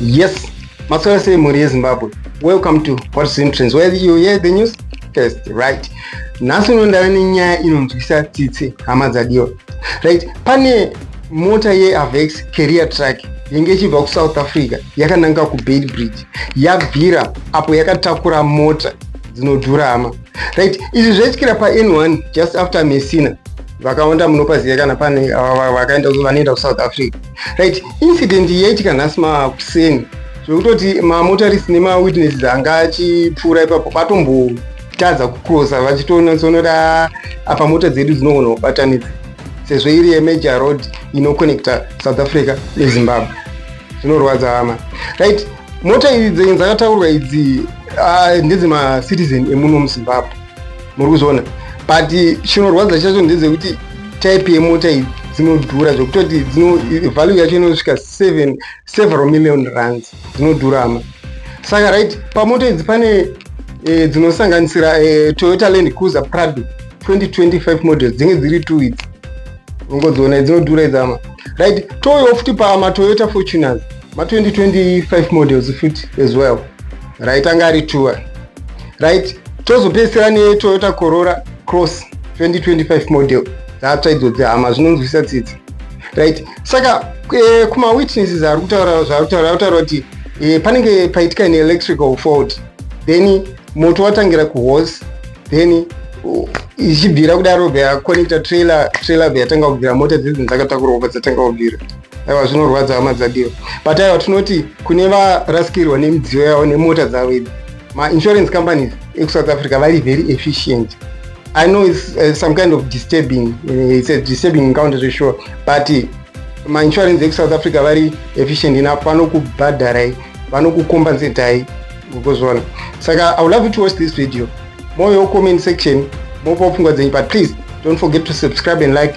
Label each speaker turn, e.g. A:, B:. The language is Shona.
A: Yes, Maswala say Mori Zimbabwe. Welcome to What's Entrance. Where you hear the news first, right? Nhasi unondava nenyaya inonzwisa tsitsi hama dzadiwa. Right? Pane mota yeavex carrier truck yenge ichibva kusouth africa yakananga kubait bridge yabvira apo yakatakura mota dzinodhurama right izvi zvaitikira pan1 just after messina vakawanda munopaziva kana pane vakaenda vanoenda kusouth africa right incident yaitika nhasi makuseni zvekutoti mamotarist nemawitnesses anga achipfuura ipapo vatombotadza kucrosa vachitoona sonoda apa mota dzedu dzinogona kubatanidza sezvo iri yemajor road inoconnecta south africa nezimbabwe zvinorwadza hama right mota idzi dzakataurwa idzi ah, ndedzemacitizen emuno muzimbabwe muri kuzviona but chinorwadza chacho ndedzekuti type yemota idzi dzinodhura zvekutoti value yacho inosvika several million runs dzinodhurama saka right pamoto idzi pane e, dzinosanganisira e, toyota land cruiser prado 2025 model dzinge dziri two idzi ungodziona dzinodhura idzama right touyawo futi pamatoyota fortuners ma2025 models futi as well right anga ari tour right tozopedzisira netoyota corora cross 2025 model dzatsva idzo dzehama zvinonzwisa tsitsi right saka eh, kuma witnesses ari kutaura zvaari kutaura ari kutaura kuti eh, panenge paitika an electrical fault then moto watangira kuhorse then uh, ichibvira kudaro vaconnecta trailer trailer veyatanga kubvira mota dzidzi dzakatakurwa kubva dzatanga kubvira aiwa zvinorwadza hama dzadiwa but aiwa tinoti kune varasikirwa nemidziyo yavo nemota dzavo idzi mainsurance companies ekusouth africa vari very efficient I know it's uh, some kind of disturbing, uh, it's a disturbing encounter to sure, but uh, ma insurance eku South Africa vari efficient enough vanokubhadharai vanokukompensatai ukozviona saka i would love you to watch this video moyo comment section mopa pfungwa dzenyu but please don't forget to subscribe and like